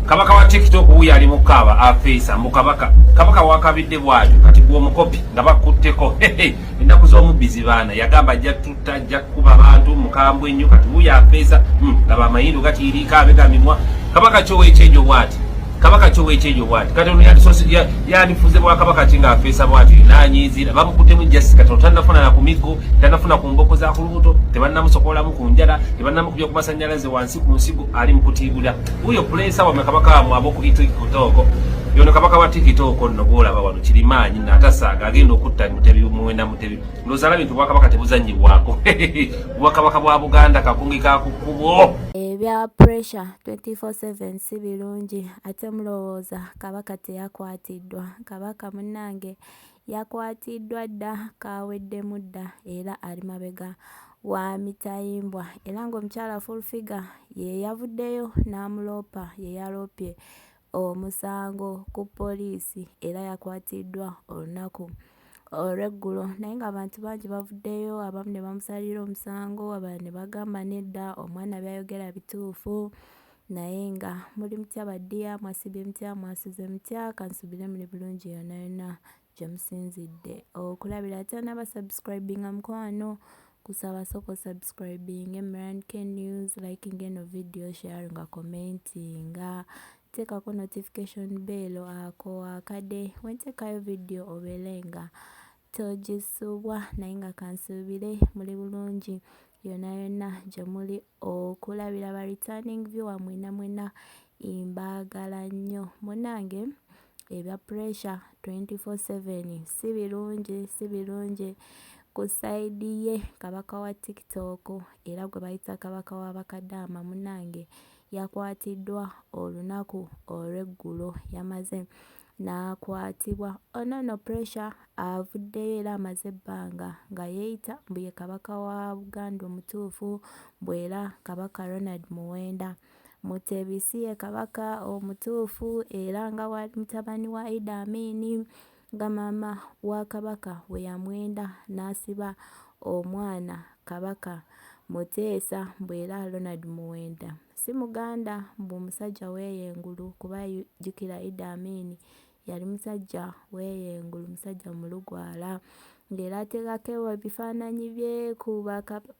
kabaka wa tiktok wuyo ali mukaaba afeesa mukabaka kabaka wakabidde bwatyo kati gwomukopi nga bakutteko ennaku z'omubbi zibaana yagamba ajja tutta ajja kukuba abantu mukambwe nnyo kati wuyo afeesa hmm, laba amayindo gatiiriika abega mimwa kabaka kyowekyejo bwati kabaka kyowekyejo bwati kati ono yandifuze bwakabaka ki nga afeesa bwati nanyiizira bamukuttemu jasi kati ono tannafuna na ku migo tannafuna ku mboko za ku lubuto tebannamusokolamu ku njala tebannamukubya ku masanyalaze wansi siku nsiku ali mukutibula uyo pulesa wamwe kabaka wamwe abokukitokoko yono kabaka wa tikitoko nno bwolaba wano kirimaanyi natasaaga agenda okutta mutebi muwenda mutebi lozala bintu bwakabaka tebuzanyibwako bwakabaka bwa buganda kakungi kakukubwo ebya pressure 24/7 si birungi ate mulowooza kabaka teyakwatiddwa kabaka munnange Yakwatiddwa dda kaaweddemu dda era ali mabega wa mitayimbwa era ng'omukyala Full Figure ye yavuddeyo n'amuloopa ye yaloopye omusango ku poliisi era yakwatiddwa olunaku olw'eggulo naye ng'abantu bangi bavuddeyo abamu ne bamusalira omusango abalala ne bagamba nedda omwana by'ayogera bituufu Naye nga muli mutya ba dear mwasibye mutya mwasuze mutya kansubire muli bulungi yona yona gyemusinzidde okulabira oh, atana ba subscribing amukwano kusaba soko subscribing emran k news liking eno video share nga commenting teekako notification bell ako akade wentekayo video obelenga Togisubwa naye nga kansuubire muli bulungi yonna yonna gye muli okulabira ba returning viewer mwena mwena mbaagala nnyo munange ebya pressure 24/7 si birungi si birungi ku sayidi ye kabaka wa tiktok era gwe bayita kabaka wa bakadaama munange yakwatiddwa olunaku olw'eggulo yamaze n'akwatibwa. Ono nno Pressure avuddeyo era amaze ebbanga nga yeeyita mbu ye Kabaka wa Buganda omutuufu mbu era Kabaka Ronald Muwenda Mutebi si ye Kabaka omutuufu era nga bw'ali mutabani wa Idi Amin nga maama wa Kabaka we yamwenda n'asiba omwana Kabaka Muteesa mbu era Ronald Muwenda Si muganda mbu omusajja weeyo engulu kuba jjukira Idi Amin yali musajja weeyo engulu musajja mulugwala ng'era ateekako ebifaananyi bye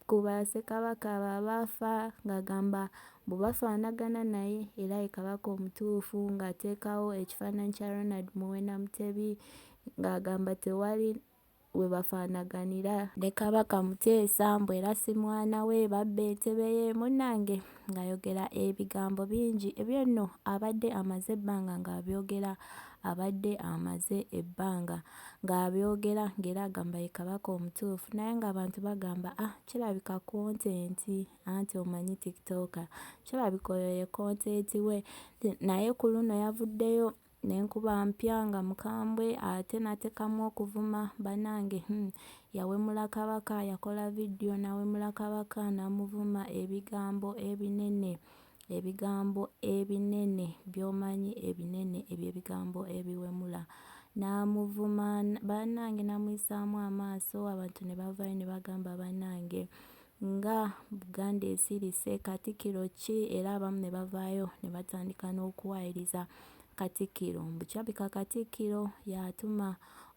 ku Bassekabaka abo abaafa ng'agamba mbu bafaanagana naye era ye Kabaka omutuufu ng'ateekawo ekifaananyi kya Ronald Muwenda Mutebi ng'agamba tewali we bafaanaganira. Ne Kabaka Muteesa mbu era si mwana we, babba entebe ye, munnange ng'ayogera ebigambo bingi. Ebyo nno abadde amaze ebbanga ng'abyogera, abadde amaze ebbanga ng'abyogera ng'era agamba ye Kabaka omutuufu naye ng'abantu bagamba ah kirabika kontenti anti omanyi tiktoka kirabika oyo ye kontenti we naye ku luno yavuddeyo nenkuba mpya nga mukambwe ate natekamu okuvuma banange humm yawemula kabaka yakola video nawemula kabaka namuvuma ebigambo ebinene ebigambo ebinene byomanyi ebinene ebyo ebigambo ebiwemula namuvuma banange namuyisamu amaaso abantu nebavayo nebagamba banange nga Buganda ezirise Katikkiro ki era abamu ne bavaayo ne batandika n'okuwaayiriza Katikkiro mbu kirabika Katikkiro y'atuma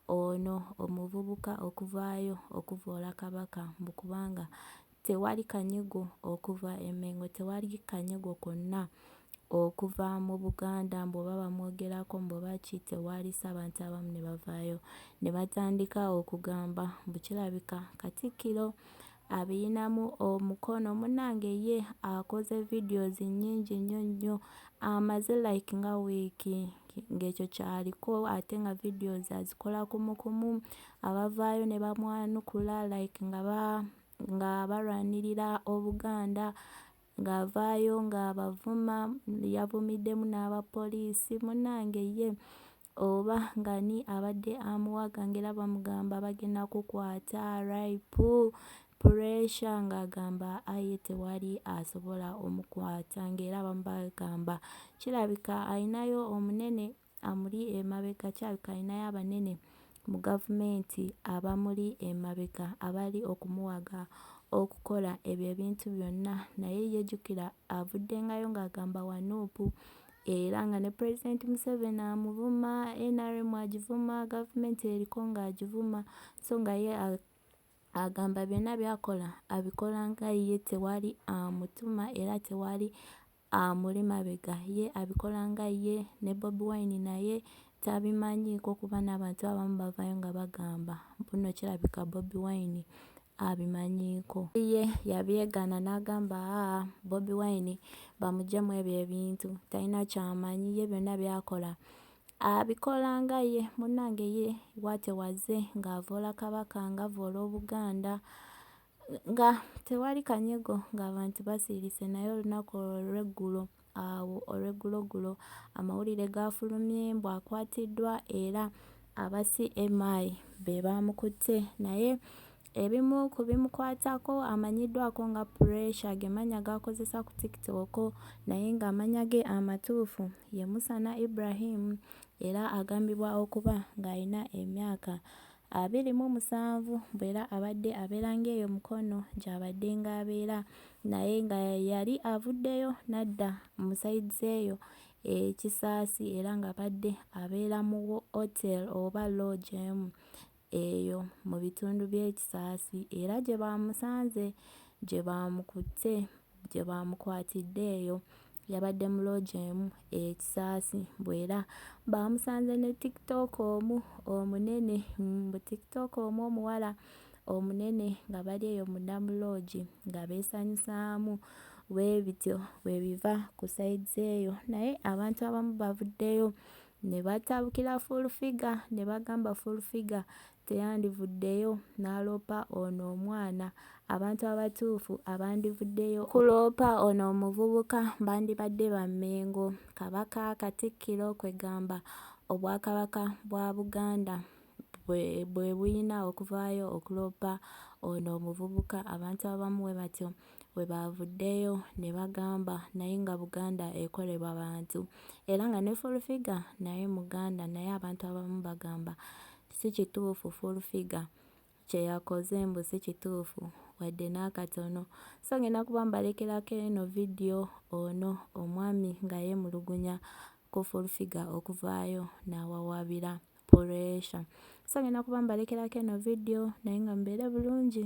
ono omuvubuka okuvaayo okuvvoola Kabaka mbu kubanga tewali kanyego okuva e Mmengo tewali kanyego konna okuva mu Buganda mbu oba bamwogerako mbu oba ki tewaalisa abantu abamu ne bavaayo ne batandika okugamba mbu kirabika Katikkiro abiyinamu omukono munnange ye akoze videos nnyingi nnyo nnyo amaze like nga wiiki ng'ekyo kyaliko ate nga videos azikola kumu kumu abavaayo ne bamwanukula like nga ba nga balwanirira Obuganda ng'avaayo ng'abavuma yavumiddemu n'abapoliisi munnange ye oba ngani abadde amuwaga ng'era bamugamba bagenda kukwata rip puresha ng'agamba aye tewali asobola omukwata ng'era bamu bagamba kirabika alinayo omunene amuli emabega kirabika alinayo abanene mu gavumenti abamuli emabega abali okumuwaga okukola ebyo ebintu byonna naye yejjukira avuddengayo ng'agamba wa nuupu era nga ne pulezidenti museveni amuvuma nrm agivuma gavumenti eriko ng'agivuma so nga ye agamba byonna byakola abikola nga ye tewali amutuma era tewali amuli mabega ye abikola nga ye ne bobi wine naye tabimanyiiko kuba n'abantu abamu bavaayo nga bagamba mbu nno kirabika bobi wine abimanyiiko ye yabyegaana n'agamba aa bobi wine bamuggyemu ebyo ebintu talina kyamanyi ye byonna byakola abikola nga ye munnange ye watewaze ng'avoola kabaka ng'avoola obuganda Nga tewali kanyego ng'abantu basirise naye olunaku olw'eggulo awo olw'eggulogulo amawulire gaafulumye mbu akwatiddwa era aba CMI be baamukutte naye ebimu ku bimukwatako amanyiddwako nga Pressure ge mannya g'akozesa ku TikTok naye ng'amannya ge amatuufu ye Musana Ibrahim era agambibwa okuba ng'alina emyaka abiri mu musanvu bwera abadde abeera ng'eyo Mukono gy'abadde ng'abeera naye nga yali avuddeyo n'adda mu sides eyo e Kisaasi era ng'abadde abeera mu hotel oba lodge emu eyo mu bitundu by'e Kisaasi era gye baamusanze gye baamukutte gye baamukwatidde eyo yabadde mu loogi emu e Kisaasi mbu era baamusanze ne tiktok omu omunene mbu tiktok omu omuwala omunene nga bali eyo munda mu loogi nga beesanyusaamu bwe bityo bwe biva ku sayizi eyo naye abantu abamu bavuddeyo Ne batabukira Full Figure ne bagamba Full Figure teyandivuddeyo n'aloopa ono omwana. Abantu abatuufu abandivuddeyo okuloopa ono omuvubuka bandibadde ba Mmengo, Kabaka, Katikkiro kwe gamba Obwakabaka bwa Buganda bwe bwe bulina okuvaayo okuloopa ono omuvubuka, abantu abamu bwe batyo. we baavuddeyo ne bagamba naye nga Buganda ekolebwa bantu era nga ne Full Figure naye Muganda naye abantu abamu bagamba si kituufu Full Figure kye yakoze mbu si kituufu wadde n'akatono so ngenda kuba mbalekerako eno vidiyo ono omwami nga yeemulugunya ku Full Figure okuvaayo n'awawaabira puleesha so ngenda kuba mbalekerako eno vidiyo naye nga mubeere bulungi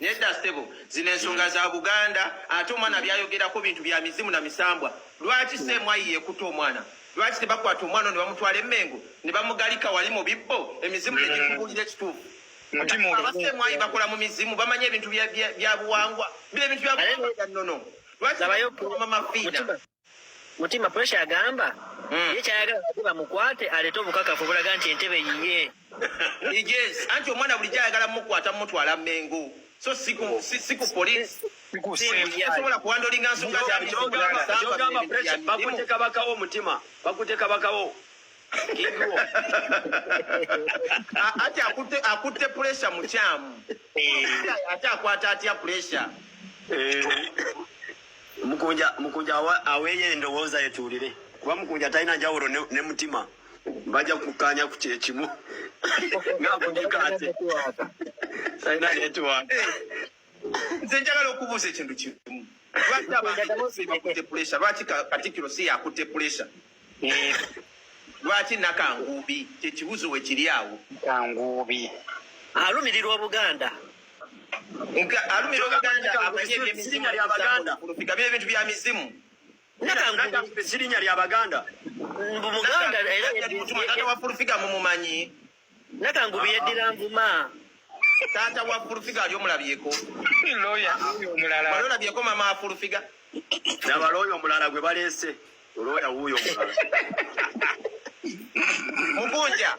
Nedda sebo zino ensonga za Buganda ate omwana byayogerako bintu bya mizimu na misambwa. Lwaki semwayi yekuta omwana? Lwaki tebakwata omwana ne bamutwala emengo ne bamugalika wali mu bibbo emizimu ne gikubulira ekituufu. Abasemwayi bakola mu mizimu bamanyi ebintu bya buwangwa. Bye bintu bya buwangwa bya nnono. Lwaki bayo mama Fiina? mutima pressure agamba mm. ye kyayagala bati bamukwate aleete obukakafu obulaga nti entebe yiye yes anti omwana bulijjo ayagala mukwata mumutwala mengo so siku siku police sikusobola kuwandolinga nsonga zabakuteka bakawo omutima bakuteka bakawo ati akutte puresha mukyamu ate akwata atya puresha eh. mukunja mukunja aweeyo endowooza yetuulire kuba mukunja talina njawulo ne mutima bajja kukkaanya ku kyekimu ngaakunika ate talina netiwaaka nze njagala okubuuza ekintu kimu lwaki abakutte pulesa lwaki katikiro si yakutte pulesa lwaki nakanguubi kyekibuzo wekiri awo kanguubi alumirirwa obuganda alumirirwa obuganda amanye ebyemizimu lyabaganda olupigabye ebintu bya mizimu nakanguubi sirinya lyabaganda muganda era mutuma tata wafulufiga mumumanyi Nakangu byeddira nvuma. Taata wa fulufiga ali omulabyeko. Lawyer omulala. Wali olabyeko mama wa fulufiga. Laba lawyer omulala gwe baleese. Lawyer wuuyo omulala. Mukunja.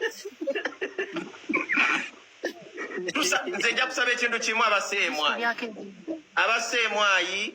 Tusa nze nja kusaba ekintu kimu abaseemwayi. Abaseemwayi.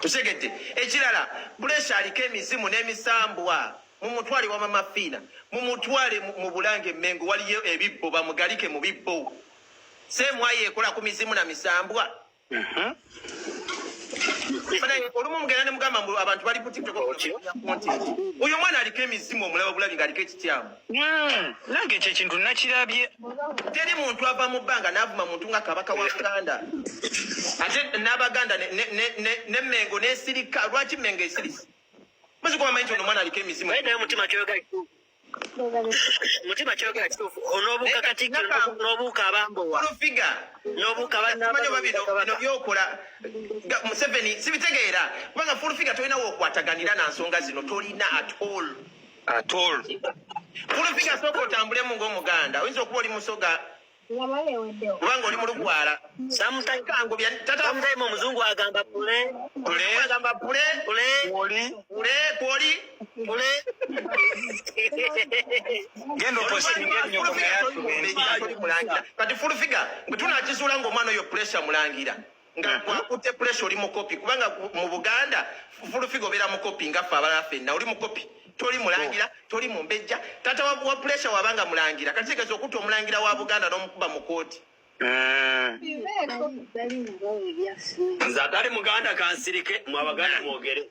Tutegedde ekirala Buleesi aliko emizimu n'emisambwa mumutwale wama mafiina mumutwale mu bulange mengo waliyo ebibbo bamugalike mu bibbo semwayo ekola ku mizimu na misambwa mhm. olumu mugenda nemugamba mbu abantu bali kutiktok oyo omwana aliko emizimu omulaba bulabi nga aliko ekityamu Mm, nange ekyo ekintu nakirabye teri muntu ava mu bbanga n'avuma muntu nga kabaka wa buganda ate n'abaganda ne mengo nesirika lwaki mengo esirise muzikubamanyi nti ono omwana aliko emizimu naye mutima kyoyogera mutima kyogera kituufu onobuuka katikkiro nobuuka abambowa olufiga nobuuka banamanyi oba bino bino byokola museveni sibitegeera kubanga fulufiga tolina wokwataganira na nsonga zino tolina at all at all kulupiga soko otambule mu ng'omuganda oyinza okuba oli musoga kubanga oli mulugwala samutaikangubyatatamuzaima omuzungu agamba pule pule agamba pule pule oli pule kwoli pule genda opostingenyokomayatukulangila kati fulufiga bwe tunakizuula ng'omwana oyo pulesa mulangira nga mhm. gwakutte puresha oli mukopi kubanga mu buganda fulufiga obeera mukopi nga ffe abalala fenna oli mukopi toli mulangira oh. toli mumbejja tata wa puresha wabanga mulangira kati kigeza okutta omulangira wa buganda n'omukuba mu kooti eh. nze atali muganda kansirike mwabaganda mwogere